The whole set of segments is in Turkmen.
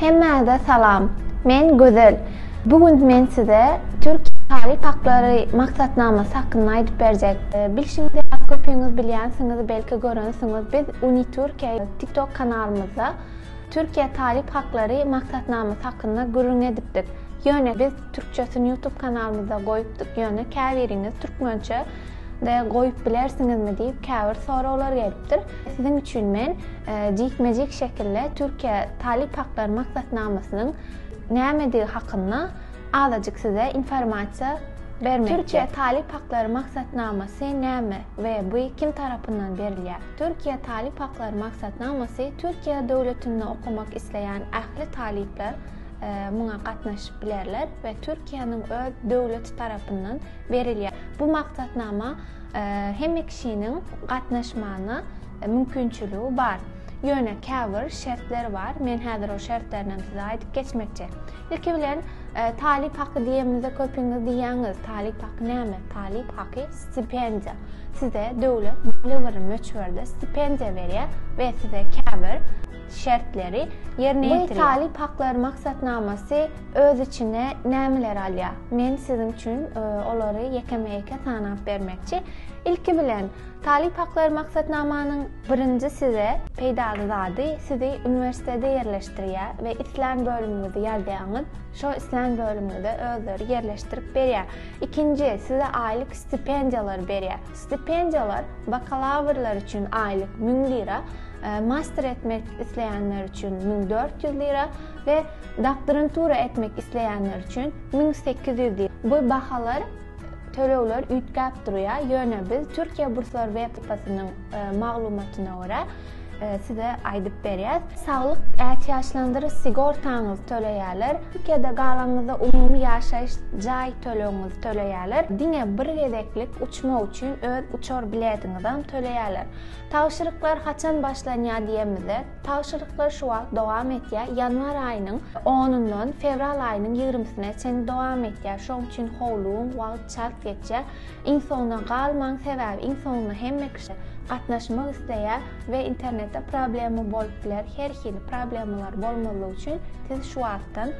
Hemmäze salam. Men Gözel. Bu gün men size Türkiýe talyp haklary maksatnamasy hakynda aýdyp berjek. Bilşiňiz ýaly, köpüňiz bilýänsiňiz, belki görensiňiz, biz UniTürkiýe TikTok kanalymyzda Türkiýe talyp haklary maksatnamasy hakynda gürrüň edipdik. Ýöne biz türkçesini YouTube kanalymyzda goýupdyk, ýöne käbiriňiz türkmençe de goýup bilersiňizmi diýip käbir soraglar gelipdir. Siziň üçin men jikme-jik şekilde Türkiýe talyp haklary maksatnamasynyň nämedigi hakynda azajyk size informasiýa bermekçi. Türkiýe talyp haklary maksatnamasy näme we bu kim tarapyndan berilýär? Türkiýe talyp haklary maksatnamasy Türkiýe döwletinde okamak isleýän ähli talyplar muňa gatnaşyp bilerler we Türkiýäniň öz döwleti tarapyndan berilýär. Bu maksatnama hemme kişiniň gatnaşmagyna mümkinçiligi bar. Ýöne käbir şertler bar. Men häzir ol şertlerini hem size aýdyp geçmekçi. Ilki bilen talyp haky diýemizde köpiňiz diýýäňiz, talyp haky näme? Talyp haky stipendiýa. Size döwlet belli bir möçberde stipendiýa berýär we size käbir şertleri ýerine ýetirýär. Bu talyp haklary maksatnamasy Öz içine nämeleri alýar? Men siziň üçin olary ýekeme-ýeke sanap bermekçi. Ilki bilen, Talyp haklary maksatnamanyň birinji size peýdaly zady, sizi uniwersitete ýerleşdirýär we islän bölümiňizi ýazýaňyz, şo islän bölümiňize özleri ýerleşdirip berýär. Ikinji, size aýlyk stipendiýalary berýär. Stipendiýalar bakalawrlar üçin aýlyk müň lira, master etmek isleýänler üçin müň dört ýüz lira, we doktorantura etmek isleýänler üçin müň sekiz ýüz diýip, bu bahalar tölegler üýtgäp durýar, ýöne biz Türkiýe burslary websaýtynyň maglumatyna görä size aýdyp berýäs. Saglyk ätiýaçlandyryş sigortaňyzy töleýärler, Türkiýede galanyňyzda umumy ýaşaýyş jaý tölegiňizi töleýärler, diňe bir gezeklik uçmak üçin öz uçar biletiňizem töleýärler. Tabşyryklar haçan başlanýar diýemizde, Tabşyryklar şu wagt dowam etýär, ýanwar aýynyň onundan fewral aýynyň ýigrimisine çenli dowam etýär. Şoň üçin howlugyň, wagt çalt geçýär. Iň soňuna galmaň, sebäbi iň soňunda hemme kişi gatnaşmak isleýär we internetde problema bolup biler. Her hili problemalar bolmazlyk üçin siz şu wagtdan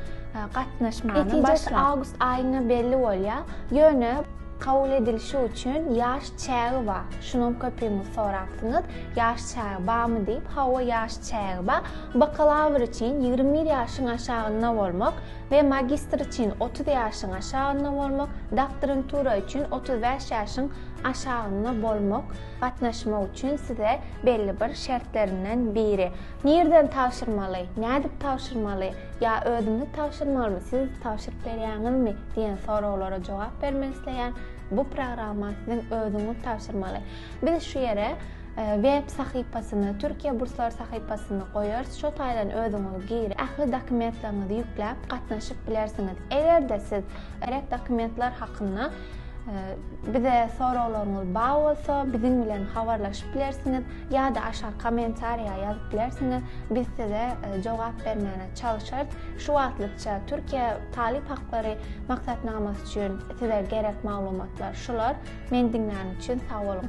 gatnaşmany başlaň. Netijesi awgust aýynda belli bolýar. Ýöne. Kabul edilişi üçin ýaş çägi bar. Şunuň köpügiňiz sorapsyňyz, ýaş çägi barmy diýip, hawa ýaş çägi bar. Bakalawr üçin ýigrimi bir ýaşyň aşagynda bolmak we magistr üçin otuz ýaşyň aşagynda bolmak, doktorantura üçin otuz bäş ýaşyň aşagynda bolmak gatnaşmak üçin size belli bir şertlerinden biri. Nireden tabşyrmaly, nädip tabşyrmaly, ýa özümiz tabşyrmalymy, siz tabşyryp berýäňizmi diýen soraglara jogap bermek isleýän bu programma siziň özüňiz tabşyrmaly. Biz şu ýere web sahypasyny, Türkiýe burslary sahypasyny goýarys, şo taýdan özüňiz girip, ähli dokumentleriňizi ýükläp gatnaşyp bilersiňiz. Eger-de siz gerek dokumentler hakynda Bize soraglaryňyz bar bolsa, biziň bilen habarlaşyp bilersiňiz ýa-da aşak kommentariýa ýazyp bilersiňiz. Biz size e, jogap bermäne çalyşarys. Şu wagtlykça Türkiýe talyp haklary maksatnamasy üçin size gerek maglumatlar şular. Men diňläniň üçin sag boluň.